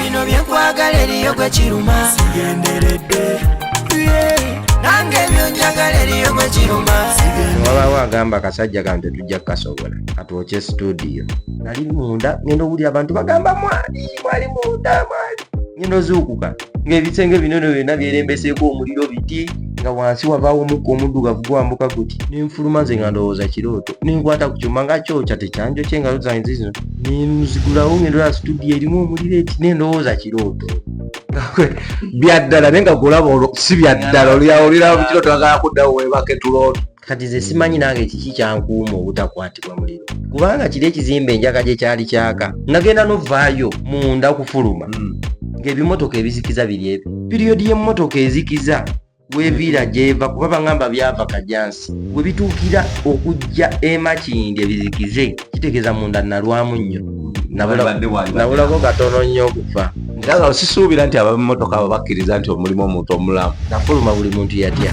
bino byenkwagala eriyo gwe kiruma sigenderedde nange byonjagala eriyo gwe kiruma wabawo agamba akasajja kano tetujja kukasobola katwokye studio nali munda ngenda owulira abantu bagamba mwali mwali munda mwali ngenda ozuukuka ng'ebisenge bino no byonna byerembeseeko omuliro biti nga wansi wavaawo omukka omuddugavu gwambuka guti nenfuluma nze nga ndowooza kirooto nenkwata ku kyuma nga kyokya tekyanjo kye engalo zange zizino nenuzigulawo ngendolaa situdiyo erimu omuliro eti nendowooza kirooto byaddala naye nga golaba si byaddala olyawo oliraba mukirooto agala kuddawo webake tulooto kati ze simanyi nange kiki kyankuuma obutakwatibwa muliro kubanga kiri ekizimba enjaga gye kyali kyaka nagenda novaayo munda kufuluma hmm. ng'ebimotoka ebizikiza biri ebyo piriyodi y'emmotoka ezikiza weviira gyeva kuba bagamba byava kajansi we bituukira okujja emakindi ebizikize kitegeeza munda nalwamu nnyo nabulako katono nnyo okufa nga sisuubira nti abamotoka abo bakkiriza nti omulimu omuntu omulamu nafuluma buli muntu yatya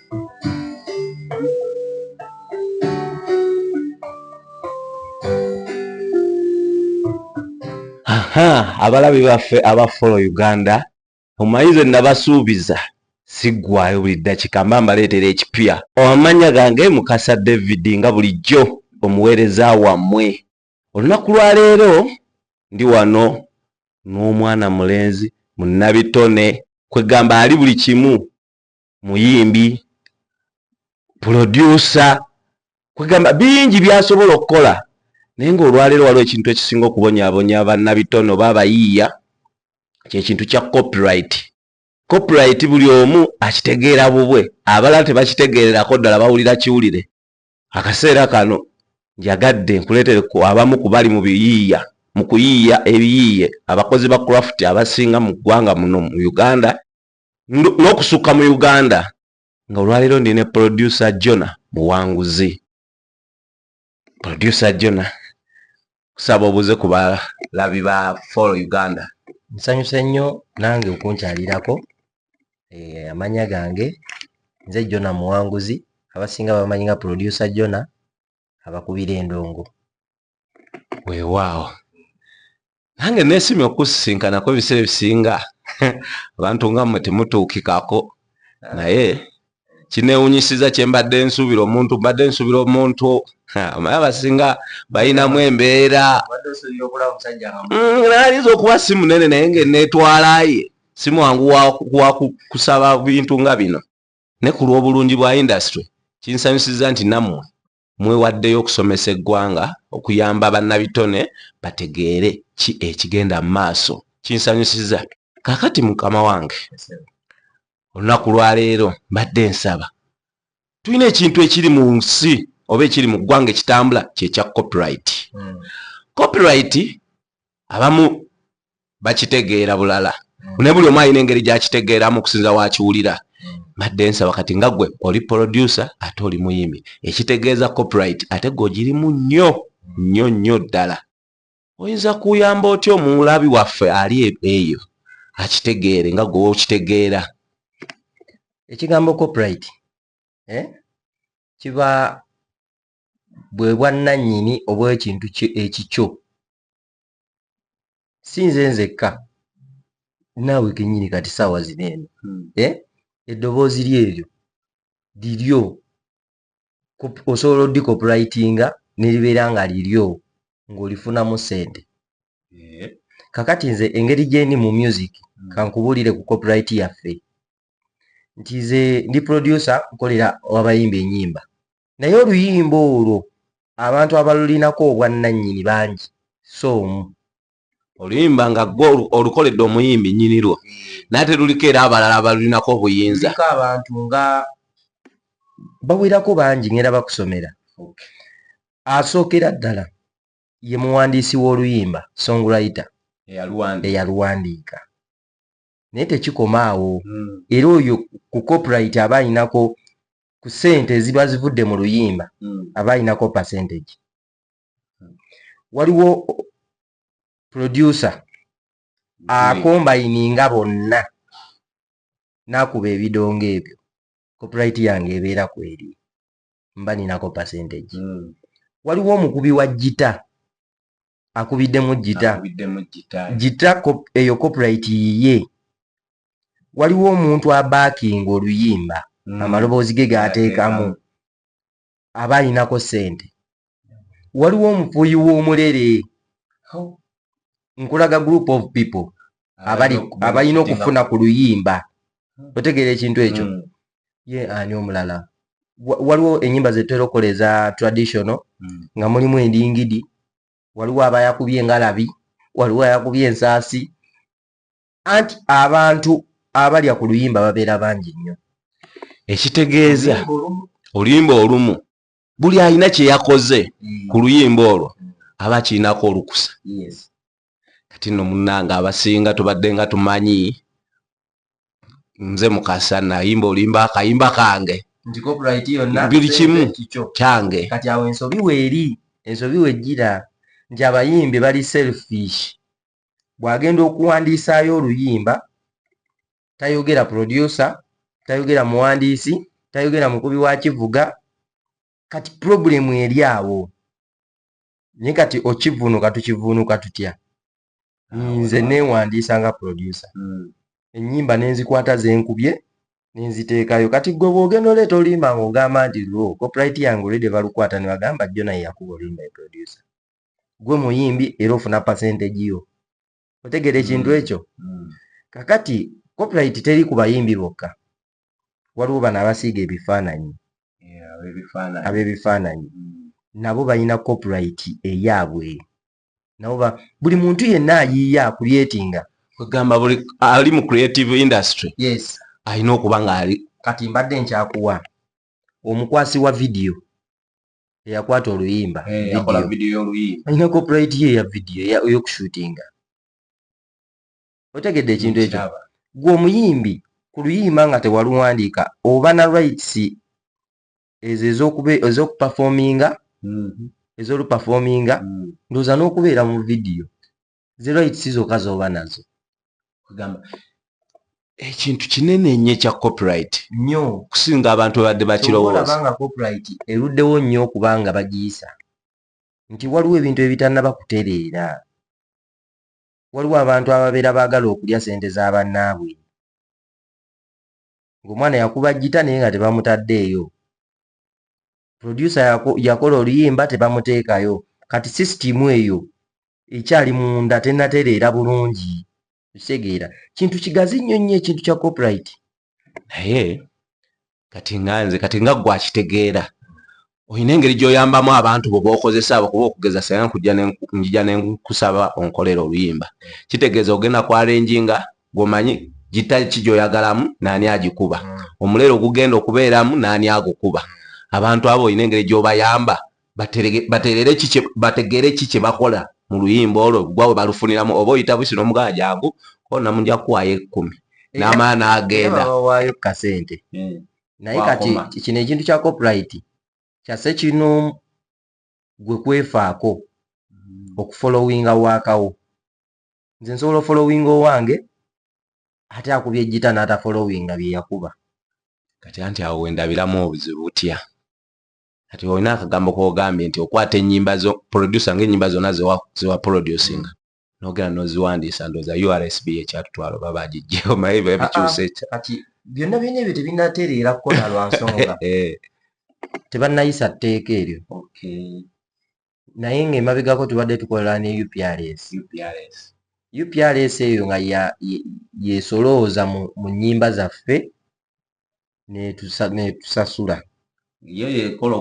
abalabi baffe aba follow uganda omayize nabasuubiza siggwayo buli ddakika mba mbaleetera ekipya amanya gange mukasa david nga bulijjo omuweereza wammwe olunaku lwaleero ndi wano n'omwana mulenzi munnabitone kwegamba ali buli kimu muyimbi pulodyusa kwegamba bingi byasobola okukola naye ngaolwaleero waliwo ekintu ekisinga okubonyabonya banabitone oba abayiiya kyekintu kya copyright copyright buli omu akitegeera bubwe abalala tebakitegeererako ddala bawulira kiwulire akaseera kano njagadde nkuleetere ku abamu ku bali mu biyiiya mu kuyiiya ebiyiiye abakozi ba craft abasinga mu ggwanga muno mu uganda n'okusukka mu uganda nga olwaleero ndi ne producer jona muwanguzi producer jona kusaba obuze ku balabi ba follow uganda nsanyuse nnyo nange okunkyalirako eh, amanya gange nze jona muwanguzi abasinga bamanyi nga producer jona abakubira endongo weewaawo nange nesimye okusisinkanako ebiseera ebisinga abantu nga mwe temutuukikako naye kinewunyisiza kyembadde nsuubira omuntu mbadde nsuubira omuntu amaye abasinga balinamu embeera nayinza mm, okuba si munene naye nga enetwalaye simwangu wakusaba bintu nga bino ne ku lw'obulungi bwa indasitule kinsanyusizza nti nammwe mwewaddeyo okusomesa eggwanga okuyamba bannabitone bategeere ki ekigenda mu maaso kinsanyusizza kakati mukama wange olunaku lwaleero mbadde nsaba tulina ekintu ekiri mu nsi oba ekiri mu ggwanga ekitambula kyekya copyright hmm. copyright abamu bakitegeera bulala mm. naye buli omu alina engeri gyakitegeeramu okusinza wakiwulira mm. mbadde nsaba kati nga gwe oli producer ate oli muyimi ekitegeeza copyright ate gwe ogirimu nnyo nnyo nnyo ddala oyinza kuyamba otya omulabi waffe ali e-, eyo akitegeere nga gwe okitegeera ekigambo copyright eh? kiba bwe bwannannyini obwekintu ekikyo si nze nzekka naawe kenyini kati saawa zino eno hmm. eh? eddoboozi lyeryo liryo osobola odikoprayitinga neribeera nga liryo ng'olifunamu sente eh? kakati nze engeri gyendi mu music hmm. kankubuulire ku copyright yaffe nti ze ndi producer nkolera wabayimba enyimba naye oluyimba olwo abantu abalulinako obwannannyini bangi so omu oluyimba nga gwe olukoledde omuyimbi nnyini lwo naye ate luliko era abalala abalulinako obuyinza liko abantu nga bawerako bangi ngenda bakusomera asookera ddala ye muwandiisi w'oluyimba songwriter eyaluwandiika naye tekikoma awo mm. era oyo ku copyright aba alinako ku sente eziba zivudde mu luyimba mm. aba alinako percentage mm. waliwo producer akombayininga bonna nakuba ebidongo ebyo copyright yange ebeera kweri mba ninako percentage mm. waliwo omukubi wa jita akubiddemu jita jita eyo copyright yiye waliwo omuntu abaakinga oluyimba mm. amaloboozi ge gaateekamu aba alinako ssente waliwo omufuuyi w'omulere nkulaga group of people abalina okufuna ku luyimba otegeera ekintu ekyo mm. ye ani omulala waliwo enyimba zetera okola eza traditional hmm. nga mulimu endingidi waliwo abayakubye engalabi waliwo ayakubye ensaasi anti abantu abalya ku luyimba babeera bangi nnyo ekitegeeza oluyimba olumu buli alina kyeyakoze hmm. ku luyimba olwo aba akirinako olukusa kati no munange abasinga tubadde nga tumanyi nze mukasa nayimba olimba akayimba kange buli kimu kyange kati awo ensobi weeri ensobi wejjira nti abayimbi bali selfish bwagenda okuwandiisaayo oluyimba tayogera producer tayogera muwandiisi tayogera mukubi wa kivuga kati problemu eri awo naye kati okivunuka tukivunuka tutya nze newandiisa nga produsa hmm. enyimba nenzikwata zenkubye nenziteekayo kati gwe bwogenda oleeta olimba nga ogamba nti lwo coprit yange olede balukwata nebagamba jona yeyakuba olimba eprodusa gwe muyimbi era ofuna percentage yo otegeera ekintu mm. ekyo mm. kakati copyright teri ku bayimbi bokka waliwo bano abasiiga ebifaananyi ab'ebifaananyi mm. nabo balina copyright eyaabwe nabo buli muntu yenna ayiiya akulyetinga ogamba buli ali mu creative industry yes alina okuba ng'ali kati mbadde nkyakuwa omukwasi wa vidiyo eyakwata oluyimba eh, alina copyright ye ya vidiyo eyokushootinga otegedde ekintu ekyo gwe omuyimbi ku luyimba nga tewaluwandiika oba na rights ezo ezokupafominga mhm. ezolupafominga mm. ndoza n'okubeera mu vidiyo zi rights zokka z'oba nazo kugamba ekintu kinene nnyo ekya copyright nnyo okusinga abantu babadde bakirowooza nga copyright eruddewo nnyo okuba nga bagiyisa nti waliwo ebintu ebitannaba kutereera waliwo abantu ababeera baagala okulya ssente za bannaabwe ng'omwana yakuba jjita naye nga tebamutaddeeyo producer yako yakola oluyimba tebamuteekayo kati system eyo ekyali munda tenatereera bulungi kitegeera kintu kigazi nnyo nnyo ekintu kya copyright naye kati nga nze kati nga gwe akitegeera olina engeri gy'oyambamu abantu bo bookozesa abo kuba okugeza senga njija ne nkusaba onkolera oluyimba kitegeeza ogenda ku arenjinga gwomanyi gita ki gyoyagalamu naani agikuba mm. omuleero ogugenda okubeeramu naani agukuba mm. abantu abo olina engeri gyobayamba bategeere ki kyebakola mu luyimba olwo gwa we balufuniramu oba oyita busi nomugaa jangu ona muja kuwayo ekkumi n'amaana agenda bawayo kasente mm. naye kati kino ekintu kya copyright kyase kino gwe kwefaako okufolowinga wakawo nze nsobola ofolowinga owange ate akuba ejjita n'atafolowinga bye yakuba kati anti awo wendabiramu obuzibu butya kati olina akagambo kogambye nti okwata enyimba zo produsa ngaenyimba zona zewa producing nogera noziwandiisa ndoza ursb ekyatutwalo babagijjeho maye babikyusa ah, ah, ekya kati byonna byona ebyo tebinatereera kukona lwansonga eh. tebanayisa tteeka eryo okay. naye nga emabegako tubadde tukola ne uprs uprs uprs eyo nga yesolooza mu nnyimba zaffe netusasula yo yekola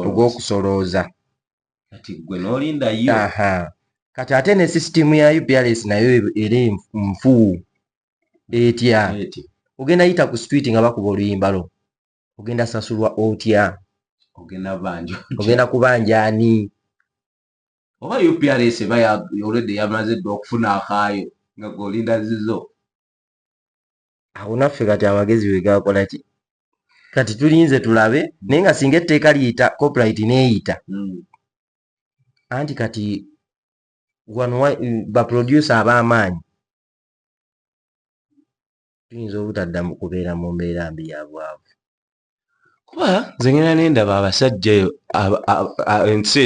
ogwokusolooza kati gwe nolinda yo kati ate ne sisitimu ya uprs nayo era nfuu etya ogenda yita ku street nga bakuba oluyimba lwo ogenda sasulwa otya ogenda kubanja ani oba uprs eba olwedde yamaze dda okufuna akaayo nga golinda zizo awo naffe kati amagezi wegakola ki kati tulinze tulabe naye nga singa etteeka liyita copyright neyita hmm. anti kati wano baproducer ab'amaanyi tuyinza obutadda mu kubeera mu mbeera mbi ya bwavu kuba nze ngenda nendaba abasajja eyo ensi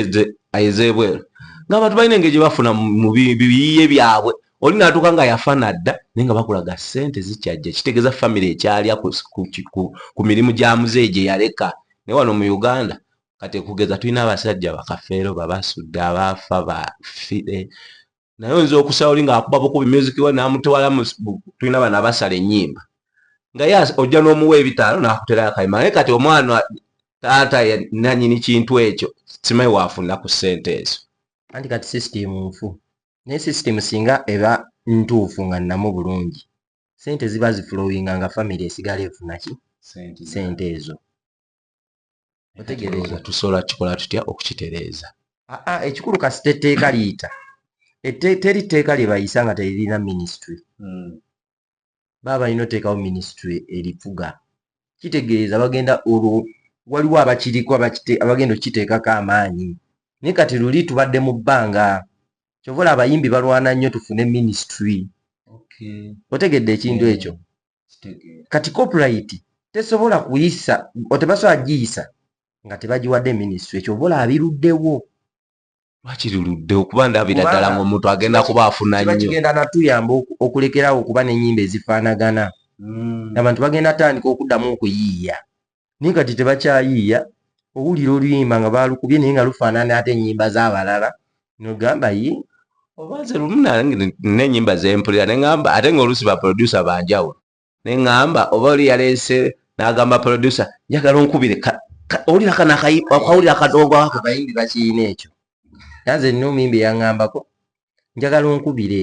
ez'ebweru ngaabantu balina engeri gye bafuna mu biyiye byabwe oli natuuka nga yafana dda naye nga bakulaga sente zikyajja kitegeeza famiry ekyalya ku mirimu gya muzeeyi gye yaleka naye wano mu uganda kati kugeza tulina abasajja bakafeero babasudde abaafa bafire naye oyinza okusala oli ngaakuba bukubi music we namutwala tulina bana basala enyimba nga ye ojja n'omuwa ebitaano nakuterayo akayimba naye kati omwana taata nanyini kintu ekyo simayi waafuna ku ssente ezo anti kati system nfu naye system singa eba ntuufu nga nnamu bulungi sente ziba zifulowinga nga famiry esigala efunaki sente ezo otegereeza tusobola kikola tutya okukitereeza ah, ah, ekikulu kasita etteeka liyita teri tteeka lye bayisa nga teririna minisitule hmm. baba balina oteekawo minisitule erifuga kitegeeza bagenda olwo waliwo abakiriko abagenda okukiteekako amaanyi naye kati luli tubadde mu bbanga kyovola abayimbi balwana nnyo tufune minisitule otegedde ekintu ekyo kati copyright tesobola kuyisa otebasobola giyisa nga tebagiwadde minisitry ekyo obola abiruddewo bakiruludde okuba ndabira ddala nga omuntu agenda kuba afuna nnyo kigenda natuyamba okulekerawo okuba n'ennyimba ezifaanagana hmm. abantu bagenda tandika okuddamu okuyiiya naye kati tebakyayiiya owulira oluyimba nga baalukubye naye nga lufaanana ate ennyimba z'abalala nogamba ye oba nze lumu n'ennyimba zempulira ne ŋamba ate ng'oluusi baprodusa banjawulo ne ŋamba oba oli yaleese n'agamba produsa njagala onkubire owulira kano akawulira akadongo ako bayimbi bakiyina ekyo nanze nina omuyimbi eyaŋambako njagala onkubire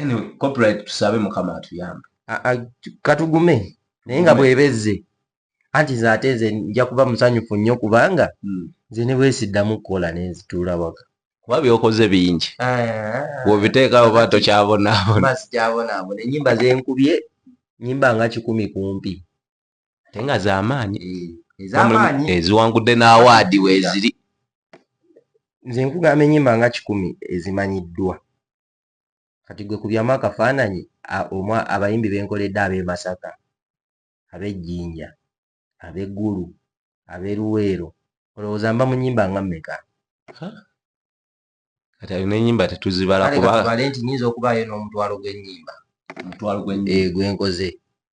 anyway copyright tusabe mukama atuyambe katugume naye nga bwebezze anti nze ate nze nja kuba musanyufu nnyo kubanga hmm. nze ne bwesiddamu kukola nenzituula waka kuba byokoze bingi bwobiteekawo ba tokyabonaabonasikyabonaabona enyimba zenkubye nyimba nga kikumi kumpi ate nga zamaanyi eh, eziwangudde n'awaadi weziri nze nkugamba enyimba nga kikumi ezimanyiddwa kati gwe kubyamu akafaananyi omwa abayimbi benkoledde ab'e Masaka ab'e Jinja ab'e Gulu ab'e Luweero olowooza mba mu nyimba nga mmeka? Kati ayo n'enyimba tetuzibala kuba kale katubale nti nyinza okubaayo n'omutwalo gw'enyimba omutwalo gw'enyimba gwenkoze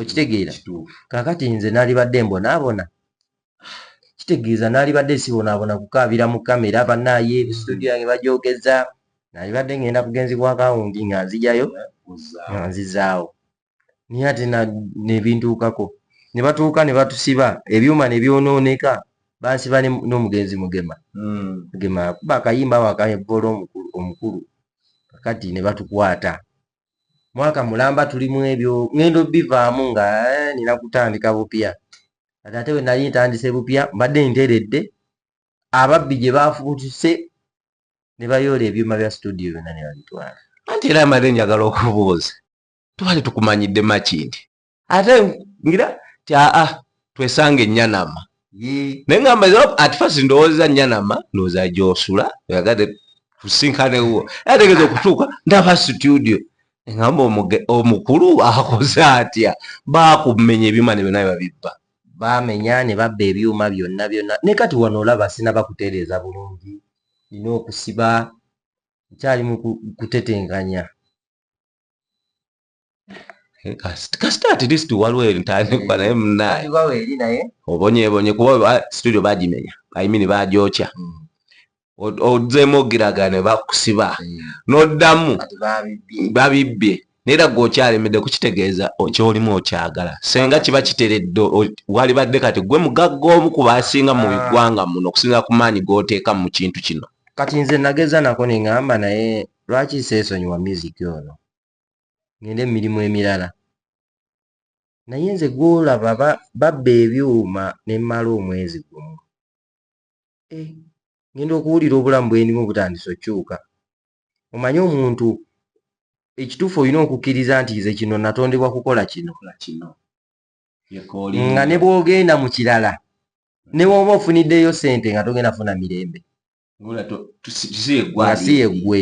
okitegeera kakati nze nalibadde mbonaabona kitegeeza nalibadde sibonaabona kukaabira mu kamera banaaye studio yange bajogeza nalibadde ngenda kugenzibwa akawundi nga nzijayo nga nzizaawo naye ate nebintuukako ne batuuka ne batusiba ebyuma ne byonooneka bansiba n'omugenzi mugema hmm. mugema akuba akayimba wakaevoola omukulu kakati ne batukwata mwaka mulamba tuli mu ebyo ngendo bivaamu nga eh, nina kutandika bupya kati ate wenali ntandise bupya mbadde nteredde ababbi gye baafutuse ne bayoola ebyuma bya situdiyo byonna ne babitwala anti era amaze njagala okubuuza tubali tukumanyidde makindi ate ngira ti aa twesanga enyanama naye ngamba at first ndowooza nyanama ndowooza gyosula oyagade tusinkanewo ategeza okutuuka ndaba studio ngamba omukulu akoze atya bakumenya ebyuma ne byona bebabibba bamenya ne babba ebyuma byonna byonna ne kati wano olaba sinaba kutereeza bulungi nina okusiba nkyali mu kutetenganya eh, kasita at least waliwo entandikwa naye munaye obonyebonye kuba ah, studio bagimenya i mean bagyokya mm. odzemu ogiragane bakusiba mm. noddamu babibbye naera gwe okyalemedde kukitegeeza kyolimu okyagala senga kiba kiteredde walibadde kati gwe mugagga omu ku basinga mu ah. ggwanga muno okusinga ku maanyi goteeka mu kintu kino kati nze nageza nako neŋamba naye lwaki seesonyiwa music ono ngende mu mirimu emirala naye nze gwolaba babba ebyuma ne mmala omwezi gumu eh, ngenda okuwulira obulamu bwendimu butandisa okyuka omanye omuntu ekituufu olina okukkiriza nti nze kino natondebwa kukola kino nga ne bwogenda mu kirala ne woba ofuniddeyo sente nga togenda funa mirembe ngasiye gwe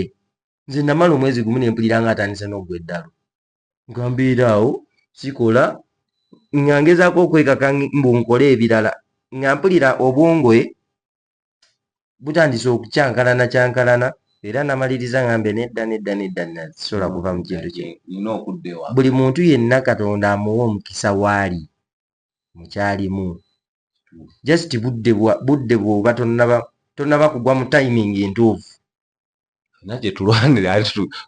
nze namala omwezi gumu nempulira nga atandise nogwa eddalu ngambeera awo sikola nga ngezaako okwekaka mbu nkole ebirala nga mpulira obwongoe butandise okukyankalana kyankalana era namaliriza ngambe nedda nedda nedda nasobola kuva mu kintu kino buli muntu yenna katonda amuwa omukisa waali mukyalimu just budde bwa budde bwoba tonnaba tonnaba kugwa mu timing entuufu na gye tulwanira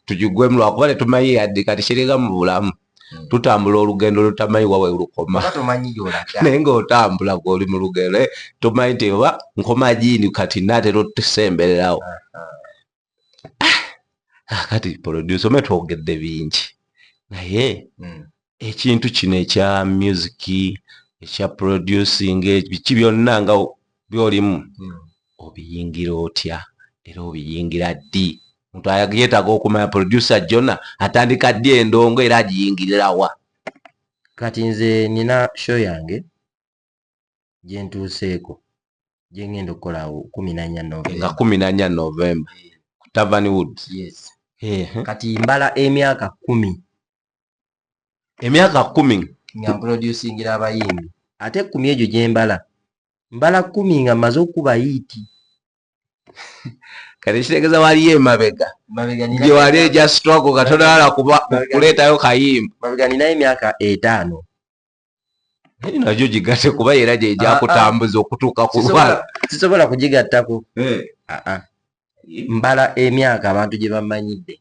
tugigwemu lwakuba tetumanyi yadde kati kiringa mu bulamu hmm. tutambula olugendo lutamanyi wawe lukoma naye ngaotambula gweoli mu lugendo eh, tomanyi nti oba nkoma jiini kati natera otusembererawo ah, ah. ah, kati producer me twogedde bingi naye hmm. ekintu kino ekya music ekya producing biki byonna nga byolimu hmm. obiyingira otya era obiyingira ddi muntu ayagiyetaga okumanya producer jona atandika ddi endongo era agiyingirirawa kati nze nina show yange gyentuuseeko gyengenda okukola awo kumi nanya nga kumi nanya novemba eh. ku tavern woods yes kati mbala emyaka kumi emyaka kumi nga mproducingira abayimbi ate kumi egyo gyembala mbala kumi nga maze okuba yiiti kati kitegeza waliyo emabega gyewali eja struggle katonala kuleetayo kayimba mabega ninayo emyaka etaano najo gigate kuba era gyejakutambuza ah, ah. okutuuka kulwala sisobola kugigattako eh. ah, mbala emyaka abantu gye bamanyidde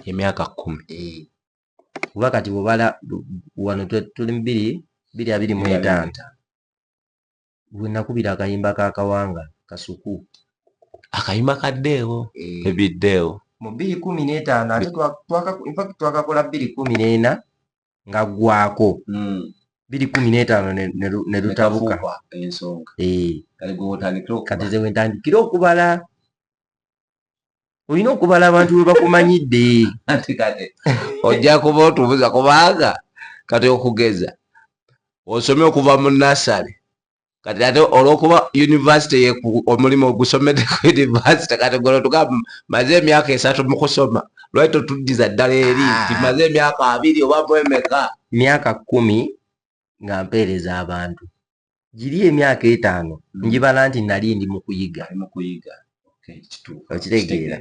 emyaka kumi eh. kuba kati bwebala wano tuli biri biri abiri mu etaano we nakubira akayimba ka kawanga kasuku akayimba kaddeewo eh. ebiddeewo mu bbiri kumi n'etaano ate infact twakakola bbiri kumi n'ena nga gwako hmm. bbiri kumi n'etaano ne lutabuka ensonga eh. kati ze wentandikira okubala olina okubala abantu bebakumanyidde anti kati ojja kuba otubuza kubanga kati okugeza osome okuva mu nasale kati ate olwokuba univesity omulimu ogusomede ku univesity kati gwe otuga maze emyaka esatu mu kusoma lwaki totuddiza ddala eri ah. nti maze emyaka abiri oba mwemeka myaka kumi nga mpeereza abantu giri emyaka etaano mm. njibala nti nali ndi mu kuyiga okitegeera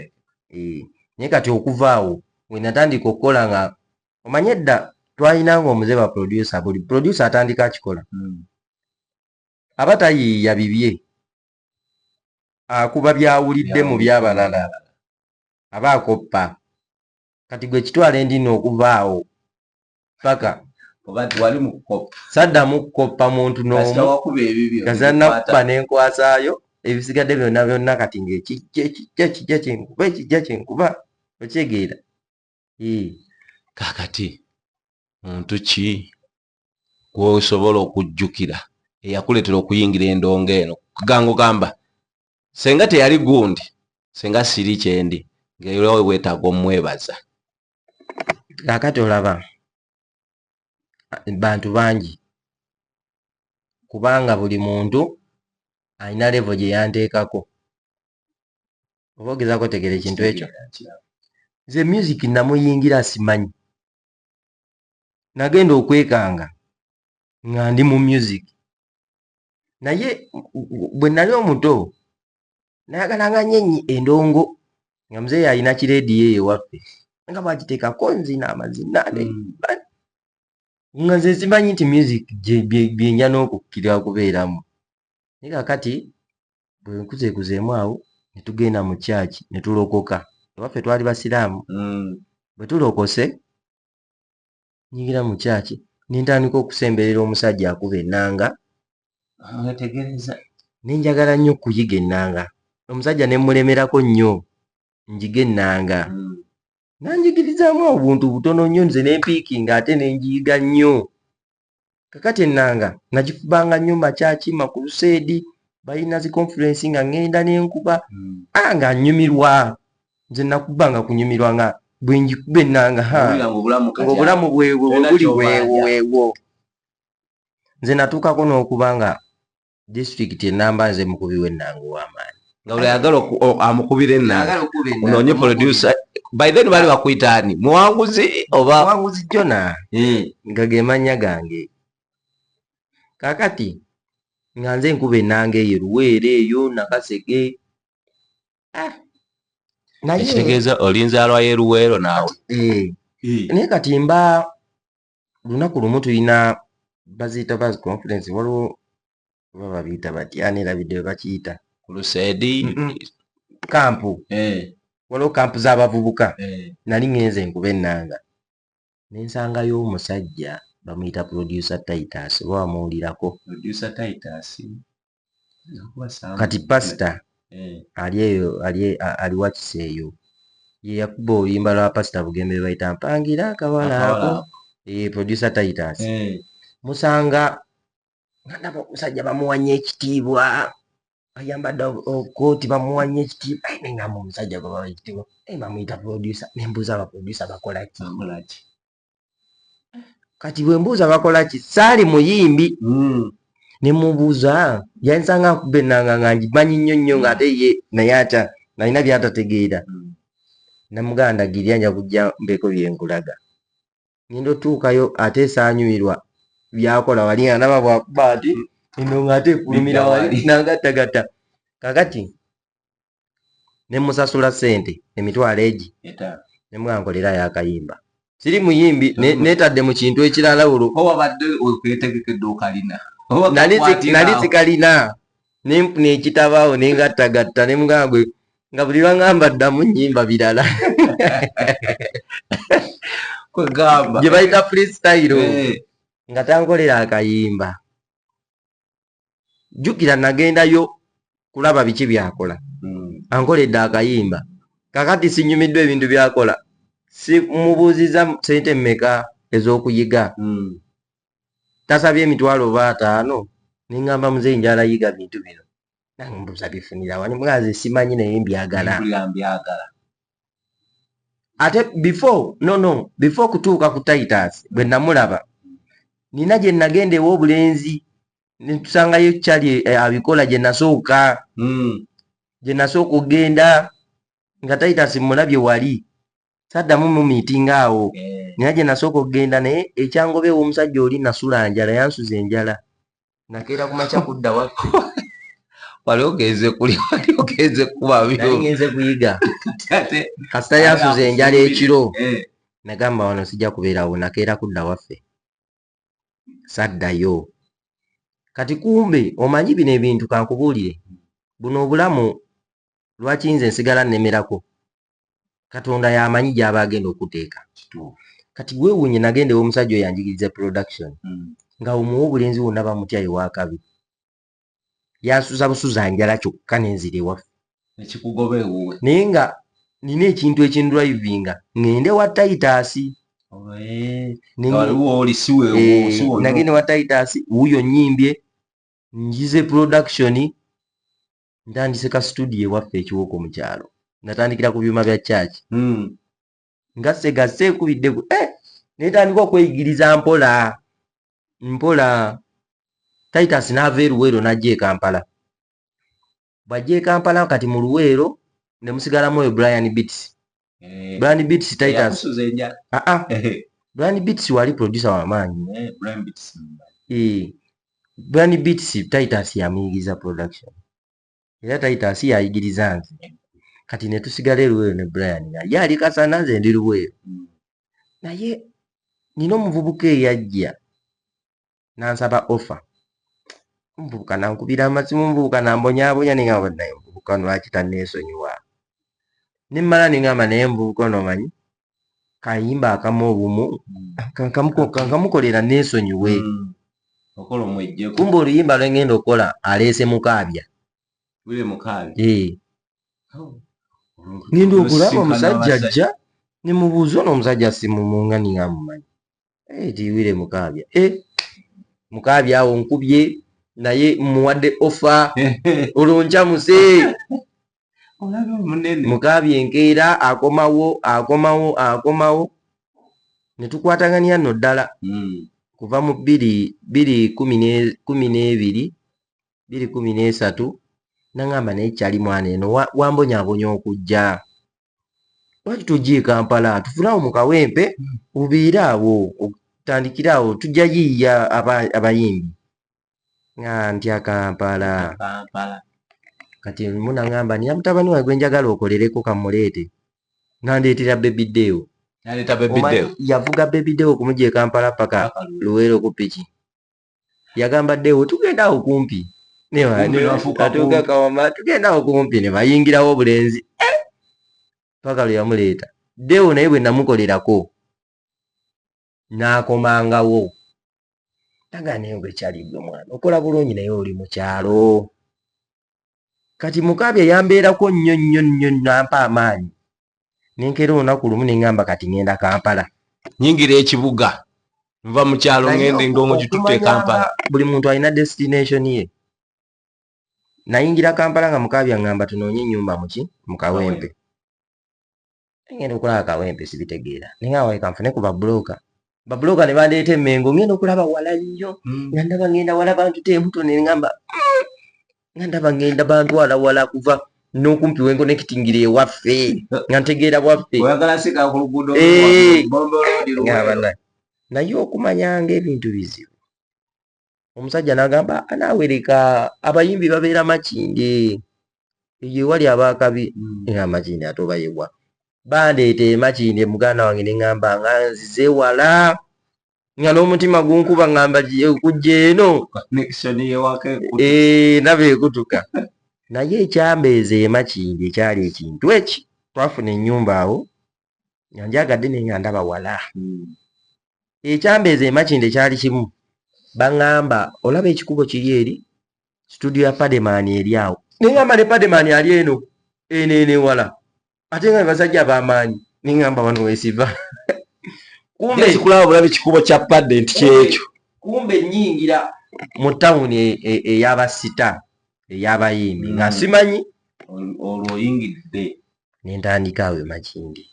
eh, naye kati okuva awo wenatandika okukola nga omanye edda twalina nga omuze ba producer buli producer atandika akikola mm. aba tayiiya bibye akuba byawulidde mu byabalala aba akoppa kati gwe kitwala endina okuva awo paka saddamu kukoppa muntu nomuazanakubba nenkwasaayo ebisigadde byonna byonna kati ngaekijja ekijja kijja kyenkuba ekijja kyenkuba okyegeera kakati muntu ki gwosobola okujjukira eyakuleetera okuyingira endongo eno kuganga ogamba senga teyali gundi senga siri kyendi ngaera wetaaga omwebaza kakati olaba bantu bangi kubanga buli muntu alina levo gye yanteekako oba ogezaako otegera ekintu ekyo nze music namuyingira simanyi nagenda okwekanga nga ndi mu music naye bwe nali omuto nayagala nga nyenyi endongo nga muzeeyi alina kirediyo eyo ewaffe nga bagitekako nzina amazina hmm. nga nze zimanyi nti music byenja n'okukkira okubeeramu naye kakati bwe nkuzekuzeemu awo ne tugenda mu kyaki ne tulokoka ewaffe twali basiraamu hmm. bwe tulokose nyingira mu kyaki nentandika okusemberera omusajja akuba enanga mwetegereza nenjagala nnyo okuyiga enanga omusajja nemulemerako nnyo njiga enanga hmm. nanjigirizamu obuntu butono nnyo nze nempiiki nga ate nenjiyiga nnyo kakati ennanga nagikubanga nnyo makyaki makuluseedi balina zi conference nga ngenda nenkuba hmm. a ah, nga nyumirwa nze nakubanga kunyumirwa nga bwenjikuba ennanga ngaobulamu bwebwo bwebuli bwewo wewo nze natuukako n'okuba nga disitulikiti enamba nze mukubi w'ennanga ow'amaanyi nga buli ayagala amukubira ennanga unoonye producer by then bali bakuyita ani muwanguzi oba muwanguzi jona hmm. nga ge mannya gange kakati nga nze nkuba ennanga eyo luweere eyo nakasege ah. naye ekitegeeza olinzaalwa y'eruweero naawe eh. Eh. naye kati mba olunaku lumu tulina baziyita bas conference waliwo oba babiyita bati ani erabidde bebakiyita kulusedi kampu eh. waliwo kampu z'abavubuka eh. nali ngenze enkuba ennanga nensangayo omusajja bamuyita producer titus oba wamuwulirako producer titus kati pasita eh. ali eyo aliwakisa eyo yeyakuba oluyimba lwa pasita bugembe lwebayita mpangira akawala ako eh, producer titus eh. musanga nandaba omusajja bamuwanya ekitiibwa ayambadde okooti bamuwa nyo ekitiibwa aye nengamba omusajja gwe bawa ekitiibwa naye bamuyita producer nembuuza abaproducer bakolaki kati bwe mbuuza bakola ki saali muyimbi hmm. ne mubuuza yansanga nkubba ennanga nga ngimanyi nnyo nnyo ng'ate ye naye ata nalina byatategeera hmm. namuganda girya nja kujja mbeeko bye nkulaga ngenda otuukayo ate esaanyuirwa byakola wali nga naba bwakuba ati eno ng'ate ekulumira wali nangattagatta kakati ne musasula sente emitwalo egi ne mwankolera yakayimba siri muyimbi netadde mu kintu ekirala olwo owabadde okwetegekede okalina nali sikalina nenfuna ekitabaawo nengattagatta ne mugambwe nga buli lwangamba ddamu nyimba birala gye bayita freestyle eh. nga tankolera akayimba jjukira nagendayo kulaba biki byakola hmm. ankoledde akayimba kakati sinyumiddwa ebintu byakola simubuuziza sente mmeka ez'okuyiga hmm. tasabye emitwalo oba ataano nengamba muzeyi njalayiga bintu bino nange mbuza bifunira wani mwaze simanyi naye mbyagala ate before no no before kutuuka ku titus bwe namulaba nina gye nagenda ew'obulenzi netusangayo kyali eh, abikola gye nasooka hmm. gye nasooka okugenda nga titus mulabye wali saddamu mumiitinga awo eh. naye gye nasooka okugenda naye ekyangoba ew'omusajja oli nasula njala yansuza enjala nakeera ku makya kudda wakko wali ogenze kuli wali ogenze kubabigenze kuyiga kasita yansuza enjala ekiro eh. nagamba wano sijja kubeerawo nakeera kudda waffe saddayo kati kumbe omanyi bino ebintu kankubuulire buno obulamu lwaki nze nsigala nnemerako katonda yamanyi gyaba agenda okuteeka kati gwewunye nagenda ewomusajja oyo anjigiriza production hmm. nga omuwa obulenzi wonna bamutya ewakabi yansuza busuza njala kyokka nenzira ewaffe naye nga nina ekintu ekindrivinga ngende wa taitasi nagende wa taitasi wuyo nyimbye njize production ntandise ka studio ewaffe ekiwoko mu kyalo natandikira ku byuma bya kyaki hmm. nga segase ekubidde ku eh! netandika okweyigiriza mpola mpola titus naava eruweero najja ekampala bwajja ekampala kati mu luweero nemusigalamu oyo brian bits Eh, Brian Beats Titans. Ah ah. Brian Beats wali producer wa maanyi. Eh, Brian Beats. Eh. Brian Beats Titans yamuyigiriza production. Era Titans yayigiriza nze. Kati ne tusigala eruweyo ne Brian. Ye ali kasana nze ndi luweyo. Hmm. Naye nina omuvubuka eyajja. nansaba offer omuvubuka nankubira amazimu omuvubuka nambonyabonya nengamba naye omuvubuka ono lwaki tanneesonyiwa nemmala nengamba naye omuvubuka ono omanyi kayimba akamu obumu kankamukolera neesonyiwe hmm. kumba oluyimba lwengenda okukola aleese mukaabya ngenda okulaba omusajja ajja nemubuuza ono omusajja simumungani amumanyi eh, tiwire mukaabya eh, mukaabya awo nkubye naye muwadde ofa oluncamuse mukaabya enkeera akomawo akomawo akomawo ne tukwatagania no ddala hmm. kuva mu bbiri bbiri kumi n'ebiri bbiri kumi n'esatu nangamba naye kyali mwana eno wambonyabonya okujja lwaki tojja e kampala tufulawo mu kawempe obeere awo otandikire awo tujja yiiya abayimbi nga ntya kampala kati mu nangamba niya mutabani wange gwenjagala okolereko kamuleete nandeetera bebideewo yavuga bebideewo okumuja e kampala paka luweero ku piki yagamba dewo tugenda awo kumpi atuuka kawama tugenda awo kumpi ne bayingirawo obulenzi eh! paka lwe yamuleeta dewo naye bwe namukolerako n'akomangawo tagaa naye ngaekyali gwe mwana okola bulungi naye oli mukyalo kati mukaabya yambeerako nnyo nnyo nnyo nampa amaanyi nenkera olunaku lumu nengamba kati ngenda kampala nyingira ekibuga nva mu kyalo ngende ngaomu gitutte ekampala buli muntu alina destination ye nayingira kampala nga mukaabya ngamba tunoonye enyumba muki mukawempe ngenda okulaba kawempe sibitegeera naye nga waleka nfune ku babulooka babulooka ne bandeeta emmengo ngenda okulaba wala nnyo hmm. nga ndaba ngenda wala bantu temuto ne ngamba hmm. nga ndaba ngenda bantu wala wala kuva n'okumpi wengo nekitingira ewaffe nga ntegeera bwaffe eh. naye okumanyanga ebintu bizibu omusajja n'agamba naawe leka abayimbi babeera makinde eyo ewali abaakabi mm. era amakinde ate oba yewa bandeeta emakinde muganda wange ne ŋŋamba nga nzize wala nga n'omutima gunkuba ŋŋamba kujja eno eh, naba ekutuka naye ekyambeeza emakinde ekyali ekintu eki twafuna ennyumba awo nga njagadde naye nga ndaba wala hmm. ekyambeeza emakinde kyali kimu baŋŋamba olaba ekikubo kiri eri situdiyo ya pademaani eri awo neŋamba ne pademaani ali eno eno eno ewala ate nga basajja bamaanyi neŋamba wano wesiva kumbekulabaolaba ekikubo kya padde nti kyekyo kumbe nyingira mu tawuni e, e, eyabasita eyabayimbi nga hmm. simanyi olwo oyingidde nentandika awo emakindi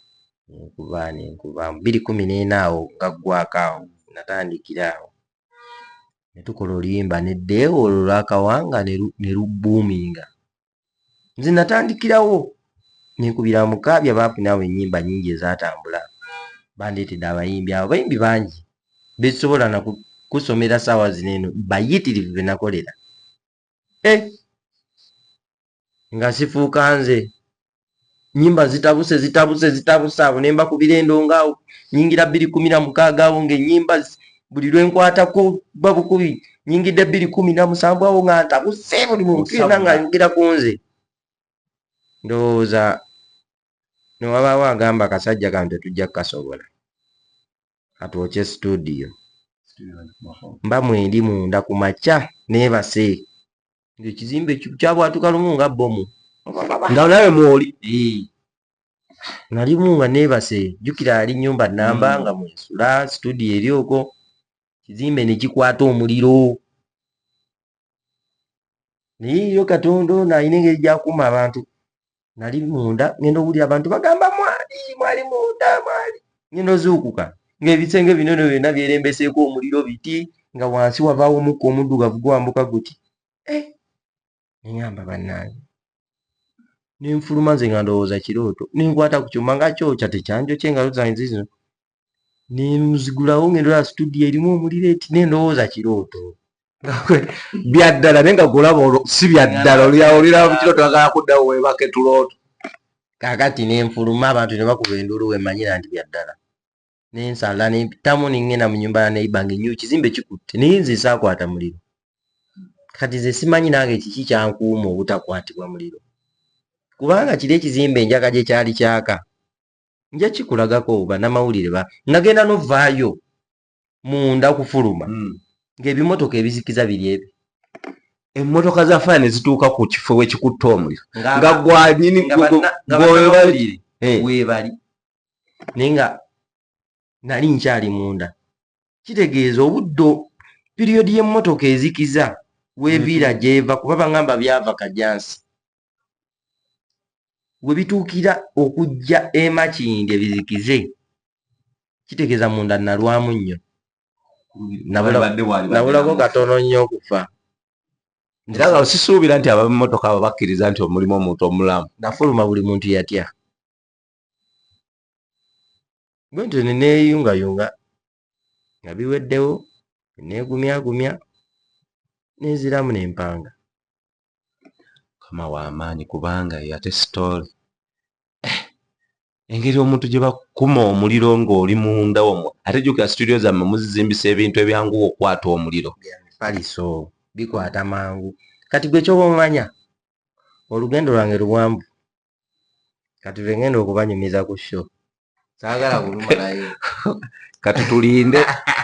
nenkuba nenkuba biri kumi nena awo gaggwako awo natandikira awo netukola oluyimba ne deewo olwo lwakawanga nelubbuuminga nze natandikirawo nenkubira mukabi abaafuna awo enyimba nyingi ezatambula bandeetedde abayimbi abo bayimbi bangi bezisobola nakusomera saawa zino eno bayitirivu benakolera e eh. nga sifuuka nze nyimba zitabuse zitabuse zitabuse awo nemba ku birendo ngaawo nyingira bbiri kumi na mukaaga awo ngaenyimba buli lwenkwata ku babukubi nyingidde bbiri kumi na musanvu awo nga ntabuse buli muntu yona nga ayogera ku nze ndowooza newabaawo agamba akasajja kano tetujja kukasobola katwokye studio mba mwendi munda ku makya nebase ngaekizimbe kyabwatuka lumu nga bomu nga nawe mwoli nalimu nga nebase jukira ali nyumba namba hmm. nga mwesula studio eri oko kizimbe nekikwata omuliro naye yo katonda ono alina engeri gyakuuma abantu nali munda ngenda owulira abantu bagamba mwali mwali munda mwali ngenda ozuukuka ngaebisenge binono byonna byerembeseeko omuliro biti nga wansi wavaawo omukka omuddugavu gwambuka guti eh, neyamba bannange nenfuluma nze nga ndowooza kirooto nenkwata ku kyuma nga kyokya tekyanjokye engalo zange zizino nenzigulawo ngendola studio erimu omuliro eti nendowooza kirooto byaddala naye nga golaba si byaddala olyaolira kiro twagala kuddawo webake tulooto kakati nenfuluma abantu nebakuba enduulu wemanyira nti byaddala nensala nempitamu nengenda mu nyumba ya neiba nga enyo kizimbe kikutte naye nze saakwata muliro kati nze simanyi nange kiki kyankuuma obutakwatibwa muliro kubanga kiri ekizimbe enjaga gye kyali kyaka nja kikulagako banamawulire ba nagenda novaayo munda okufuluma hmm. ng'ebimotoka ebizikiza biri ebi emmotoka za faya ne zituuka ku kifo wekikutte omuliro nga gwanyini gwewebali webali naye nga nali nkyali munda kitegeeza obuddo piriyodi y'emmotoka ezikiza weviira gyeva kuba bagamba byava kajansi we bituukira okujja emakinde bizikize kitegeeza munda nalwamu nnyo nabulako katono nnyo okufa nziraga sisuubira nti abamotoka abo bakkiriza nti omulimu omuntu omulamu nafuluma buli muntu yatya gwe nti neneeyungayunga nga biweddewo neegumyagumya ne nziramu ne mpanga. Mukama wa maanyi kubanga eyo ate sitoole. Eh, engeri omuntu gye bakuma omuliro ng'oli munda omwo ate jjukira situdiyo zammwe muzizimbisa ebintu ebyanguwa okukwata omuliro. Paliso bikwata mangu kati gwe kyoba omanya olugendo lwange luwanvu kati lwe ngenda okubanyumiza ku sho saagala kulumalayo kati tulinde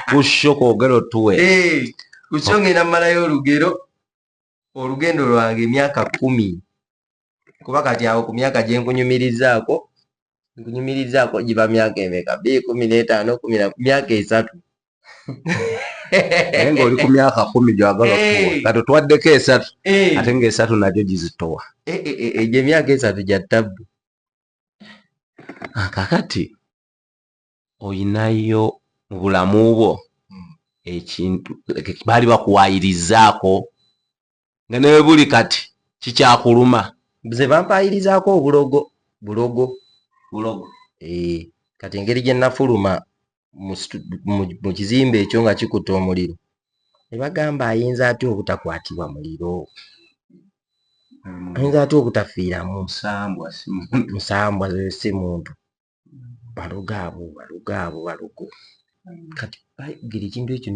ku sho kwogera otuwe ku sho ngenda malayo olugero olugendo lwange emyaka kumi kuba kati awo ku myaka gye nkunyumirizaako nkunyumirizaako giba myaka emeka bikumi n'etaano kumi na myaka esatu naye ng'oli ku myaka kumi gyagala okuwa kati otwaddeko esatu ate ng'esatu nagyo gizitowa egyo emyaka esatu gya tabbu kakati oyinayo mu bulamu bwo ekintu baali bakuwayirizaako nga ne buli kati kikyakuluma nze bampaayirizaako obulogo bulogo bulogo ee eh, kati engeri gye nafuluma mu kizimbe ekyo nga kikutte omuliro ne bagamba ayinza atya obutakwatibwa muliro hmm. ayinza atya obutafiiramu musambwa si muntu balogo abo balogo abo balogo hmm. kati bayogera ekintu ekyo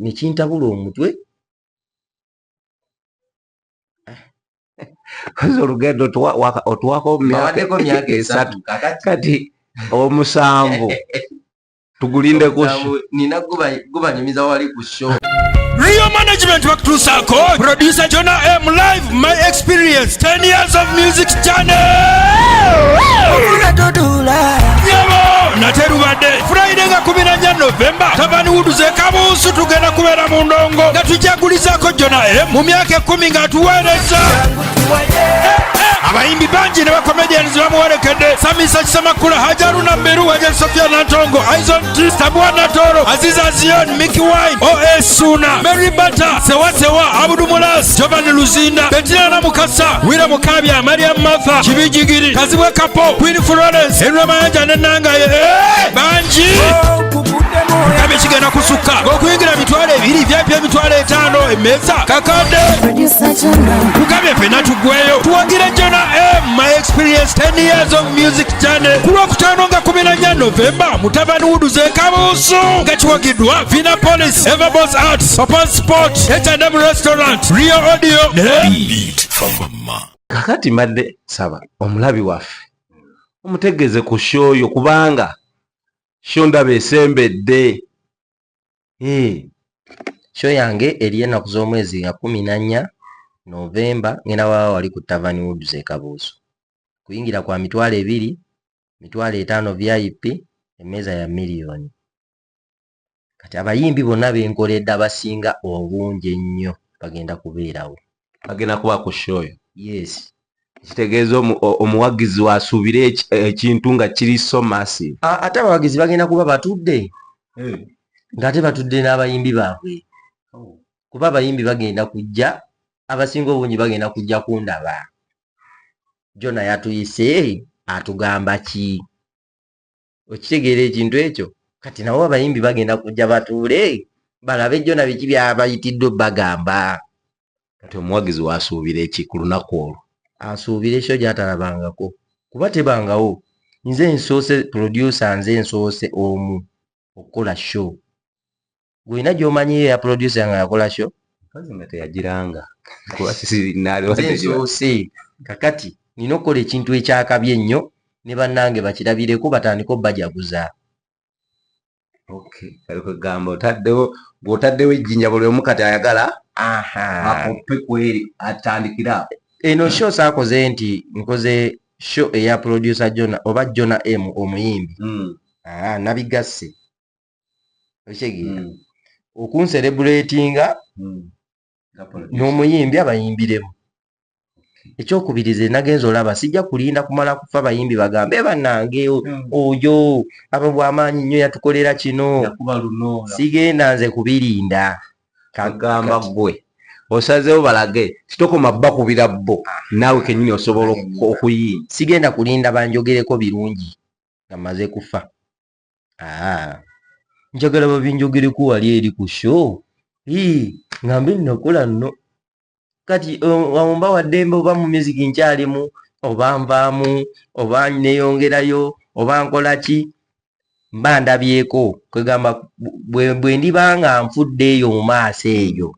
nekintabula omutwe koze olugendo otuwako myaka esatu kati omusanvu tugulinde kushoninagubannyumiza wali ku sho Real management bakutuusaako producer Jonah M live My experience 10 years of music journey. nate lubadde friday nga 14 novemba tabani wuduze kabuusu tugenda kubeera mu ndongo nga tujagulizako jona m mu myaka ekumi nga atuweereza abayimbi bangi ne bakomedians bamuwerekedde samisa kisamakula hajaruna mberu waja sofia nantongo Sabwana Toro, Aziza Zion, Mickey Wine, OS Suna, Mary Bata, Sewa Sewa, Abudu Mulas, Giovanni Luzinda, Bettina na Mukasa, Wira Mukabya, Maria Martha, Kibijigiri, Kazibwe Kapo, Queen Florence, Henry Mayanja ne Nanga ye. Eh, banji. Kabe kigenda kusukka. Okuyingira mitwalo ebiri, VIP emitwalo etaano, emmeeza kakadde. Tugamye fena tugweyo. Tuwagire Jonah M, my experience 10 years of music. Jane ku lwokutaano nga kumi na nnya Novemba mutabani wuduze kabuusu nga kiwagiddwa Vina Police, Everbos Arts, Papa Sport, H&M Restaurant, Rio Audio ne kakati mbadde saba omulabi waffe omutegeeze ku shoyo kubanga sho ndaba esembedde eh. sho yange eri enaku z'omwezi nga kumi na nnya Novemba ngenda wawa wali ku Tavern Woods e Kabuusu. kuyingira kwa mitwalo ebiri mitwalo etaano vip emmeeza ya miliyoni kati abayimbi bonna benkoledde abasinga obungi ennyo bagenda kubeerawo bagenda kuba ku shoyo yes kitegeeza omuwagizi wasuubire ekintu nga kiri so massive ate abawagizi bagenda kuba batudde eh. ng'ate batudde n'abayimbi baabwe oh. kuba abayimbi bagenda kujja abasinga obungi bagenda kujja kundaba jona yatuyise atugamba ki okitegeera ekintu ekyo kati nawo abayimbi bagenda kujja batuule balabe jona biki byabayitiddwe bagamba kati omuwagizi wasuubira eki ku lunaku olwo asuubira ekyo gyatalabangako kuba tebangawo nze nsoose producer nze nsoose omu okukola show gwina gyomanyi ya producer nga yakola show kazi nga teyagiranga kuba sisi nali watezusi kakati nina okukola ekintu ekyakabi ennyo ne bannange bakirabireko batandika obajaguza okay kali kwegamba otaddewo gwotaddewo ejjinja buli omu kati ayagala akupe kweri atandikira eno show saakoze nti nkoze show eya producer jona oba jona m omuyimbi mm. ah, nabigasse okitegeera hmm. okunserebulatinga hmm. n'omuyimbi abayimbiremu ekyokubirize nagenza olaba sijja kulinda kumala kufa bayimbi bagambe eh, banange hmm. oyo aba bwamaanyi nnyo yatukolera kino sigenda nze kubirinda kagamba gwe osazewo balage titokoma bba kubira bbo naawe kenyini osobola okuyimba sigenda kulinda banjogereko birungi nga maze kufa Ah, njagala babinjogereko wali eri ku show ii ngambe nnakola nno kati wamumba um, waddembe oba mu music nkyalimu oba nvaamu oba neyongerayo oba nkola ki mba ndabyeko kwegamba bwe ndiba nga nfudde eyo mu maaso eyo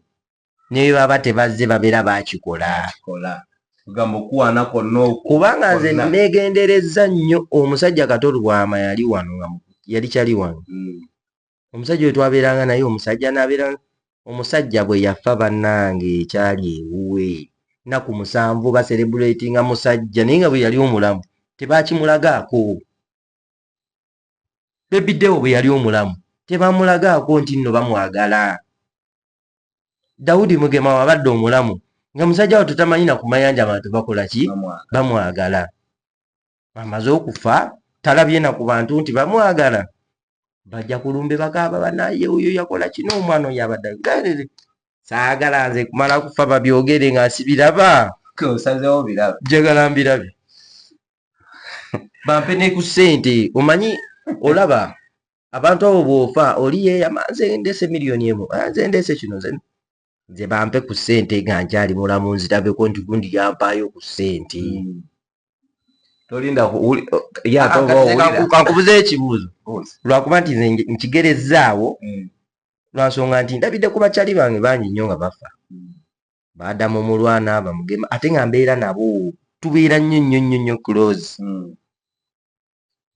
ne bye baba tebazze babeera bakikola kubanga nze negenderezza nnyo omusajja kato lwama yali wano nga yali kyali wano hmm. omusajja oyo twabeeranga naye omusajja nabeera omusajja bwe yafa bannange ekyali ewuwe naku musanvu baserebulatinga musajja naye nga bwe yali omulamu tebakimulagaako bebidewo bwe yali omulamu tebamulagaako nti nno bamwagala Daudi Mugema wabadde omulamu nga musajja wattu tamanyi na kumayanja abantu bakola ki bamwagala amaze okufa talabye na ku bantu nti bamwagala bajja kulumbe bakaaba banaye oyo yakola kino omwana oyo abadde saagala nze kumala kufa babyogere nga nsibiraba osazewo biraba njagala mbirabe bampe ne ku ssente omanyi olaba abantu abo bwofa oli yeyama nze ndeese miliyoni emu ah, nze ndeese kino nze nze bampe ku ssente nga nkyali mulamu nzirabeko nti gundi yampaayo ku ssente hmm. tolindakankubuza ekibuuzo lwakuba nti nze nkigerezzaawo hmm. lwansonga nti ndabidde ku bakyali bange bangi nnyo nga bafa hmm. baada mu mulwana bamugema ate nga mbeera nabo tubeera nnyo nnyo nnyo nnyo close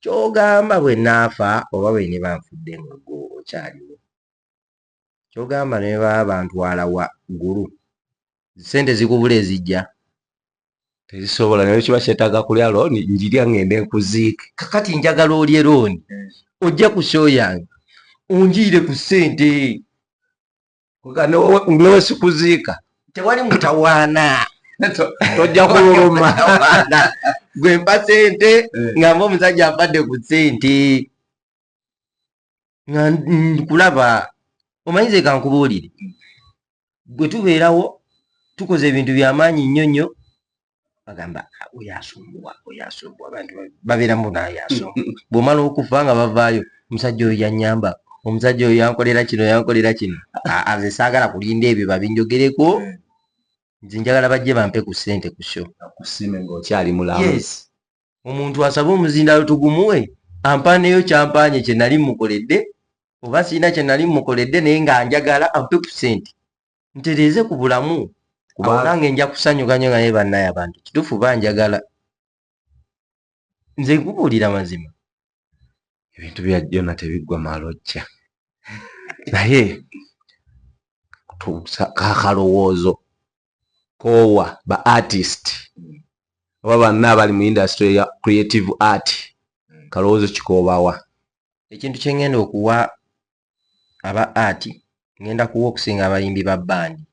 kyogamba bwe naafa oba bwe niba nfudde nga gwe okyaliwo kyogamba ne baba bantwala wa ggulu sente zikubula ezijja tezisobola naye kiba kyetaaga kulya looni njirya ngende nkuziike kakati njagala olye looni ojja ku show yange onjiire ku sente ngewe sikuziika tewali mutawaana tojja kululuma gwe mpa sente eh. nga mba omusajja abadde ku sente nga nkulaba omanyize kankubuulire gwe tubeerawo tukoze ebintu byamaanyi nnyo nnyo bagamba ah, oyo asumbuwa oyo asumbuwa abantu babeera mu naye asumbuwa bw'omala okufa nga bavaayo omusajja oyo yanyamba omusajja oyo yankolera kino yankolera kino aze saagala kulinda ebyo babinjogereko nze njagala bajje bampe ku ssente ku sho akusiime ng'okyali mulamu omuntu asaba omuzindaalo tugumuwe ampaaneyo kyampaanye kye nali mukoledde oba sirina kye nali mukoledde naye nga njagala ampe ku ssente ntereeze ku bulamu kubanange nja kusanyuka nyo nga naye bannaye abantu kituufu banjagala nze nkubuulira mazima ebintu bya jona tebiggwa malojja naye kakalowoozo koowa ba artist oba banna abali mu industry ya creative art kalowoozo kikoobawa ekintu kyengenda okuwa aba art ngenda kuwa okusinga abayimbi ba bandi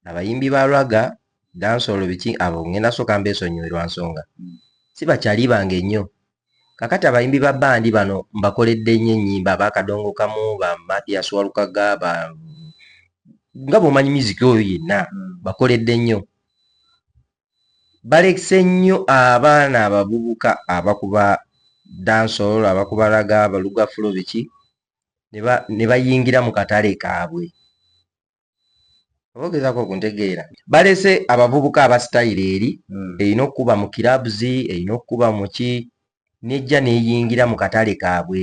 abayimbi ba raga dansolo biki abo ngenda soka mbesonyiwe lwa nsonga mm. si bakyali bange nnyo kakati abayimbi ba bandi bano mbakoledde nnyo ennyimba abakadongo kamu ba mathias walukaga ba nga bwomanyi miziki oyo yenna mm. bakoledde nnyo balekise nnyo abaana abavubuka abakuba dansol abakuba raga balugafulo biki ne bayingira mu katale kaabwe obogezako okuntegeera balese abavubuka abasitayiro eri hmm. erina okukuba mu kirabs erina okukuba muki nejja neyingira mu katale kaabwe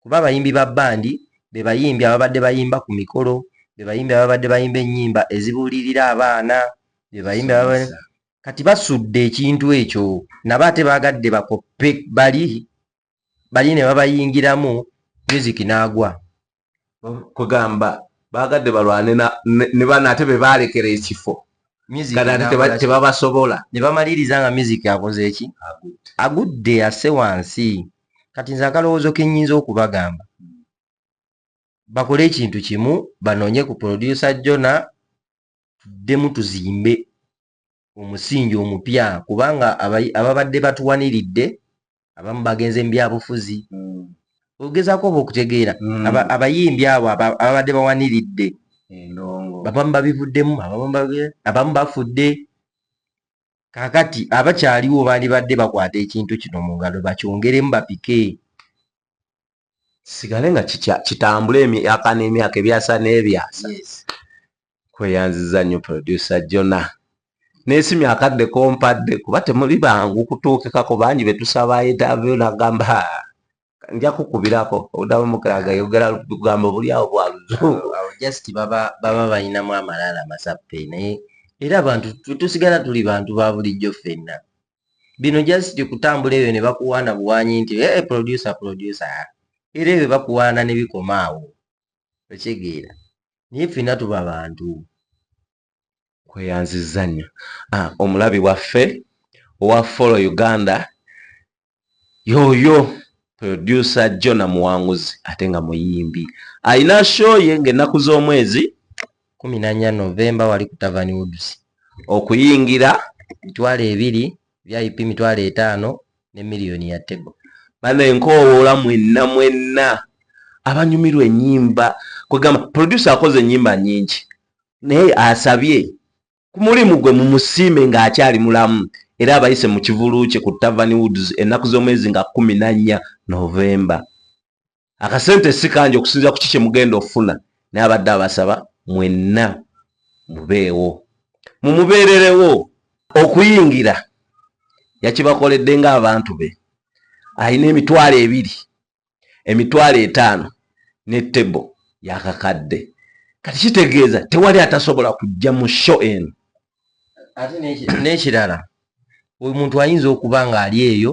kuba abayimbi ba bandi be bayimbi ababadde bayimba ku mikolo be bayimbi ababadde bayimba ennyimba ezibuulirira abaana be bayimbi kati basudde ekintu ekyo nabo ate baagadde bakoppe bali bali ne babayingiramu music n'agwa kugamba baagadde balwane ne bana ate be baalekera ekifo tebabasobola ne bamaliriza nga music akoze eki agudde ase wansi kati nze akalowoozo kenyinza okubagamba bakole ekintu kimu banoonye ku producer jona tuddemu tuzimbe omusingi omupya kubanga ababadde batuwaniridde abamu bagenze mu byabufuzi hmm. ogezaako oba okutegeera hmm. abayimbi abo ababadde bawaniridde abamu babivuddemu abamu bafudde kakati abakyaliwo bandibadde bakwata ekintu kino mu ngalo bakyongeremu bapike sigale nga kitambula emyaka n'emyaka ebyasa n'ebyasa kweyanziza nnyo producer jona nesimya akadde kompadde kuba temuli bangu kutuukikako bangi betusabayo davyo nagamba nja kukubirako odamu mukaga yogera lugambo buli awo bwa luzungu just baba baba balinamu amalala masappe naye era abantu tusigala tuli bantu ba bulijjo ffenna bino just kutambula ebyo ne bakuwaana buwanyi nti e eh, producer producer era ebyo bakuwaana ne bikoma awo okyegeera naye ffenna tuba bantu kweyanziza nnyo ah, omulabi waffe owa follow uganda yoyo producer jona muwanguzi ate nga muyimbi alina show ye ngaennaku z'omwezi kumi nanya novemba wali ku tavani woods okuyingira mitwalo ebiri vip mitwalo etaano ne miliyoni ya table bano enkowoola mwenna mwenna abanyumirwa enyimba kwegamba producer akoze enyimba nyingi naye asabye ku mulimu gwe mumusiime ng'akyali mulamu era abayise mu kivulu kye ku Tavern Woods ennaku z'omwezi nga kumi na nnya Novemba. Akasente si kangi okusinziira ku ki kye mugenda okufuna naye abadde abasaba mwenna mubeewo mumubeererewo. Okuyingira yakibakoledde ng'abantu be alina emitwalo ebiri emitwalo etaano ne tebo yakakadde kati kitegeeza tewali atasobola kujja mu sho eno ate n'ekirala oyo muntu ayinza okuba ng'ali eyo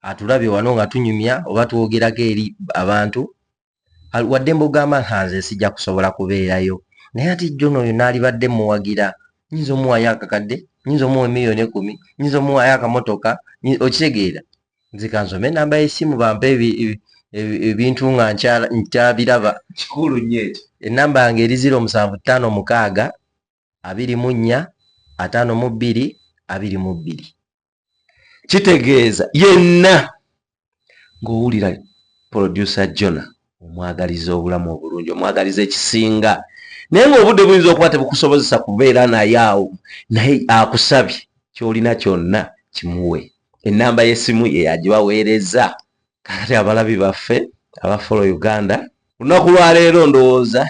atulabye wano nga tunyumya oba twogerako eri abantu wadde mbogamba ntanze sijja kusobola kubeerayo naye ati jona oyo naalibadde muwagira nyinza omuwayo akakadde nyinza omuwa emiliyoni ekumi nyinza omuwayo akamotoka okitegeera nzikanzo me namba yesimu bampa ebintu nga nkyabiraba kikulu nyo ekyo enamba yange eri ziro musanvu ttaano mukaaga abiri mu nnya ataano mu bbiri abiri mu bbiri kitegeeza yenna ng'owulira producer jona omwagaliza obulamu obulungi omwagaliza ekisinga naye ngaobudde buyinza okuba tebukusobozesa kubeera naye awo naye akusabye kyolina kyonna kimuwe enamba yesimu yeyagibaweereza kakati abalabi baffe abafolo uganda lunaku lwaleero ndowooza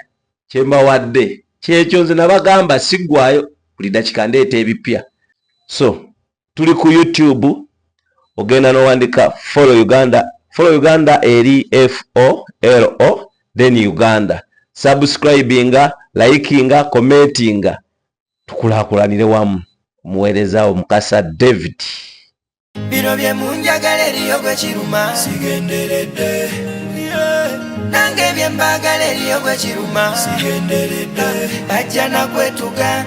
kyembawadde kyekyo nze nabagamba sigwayo buli dakika ndeeta ebipya so tuli ku youtube ogenda nowandika follow uganda follow uganda eri folo then uganda subscribinga likinga commentinga tukulakulanire wamu omuweerezawo mukasa david bino bye munjagala eriyo gwe kiruma sigenderedde nange bye mbagala eriyo gwe kiruma sigenderedde bajja nakwetuga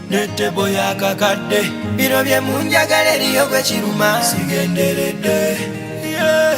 netebo yakakadde bino bye munjagala eriyo gwe kiruma sigenderedde yeah.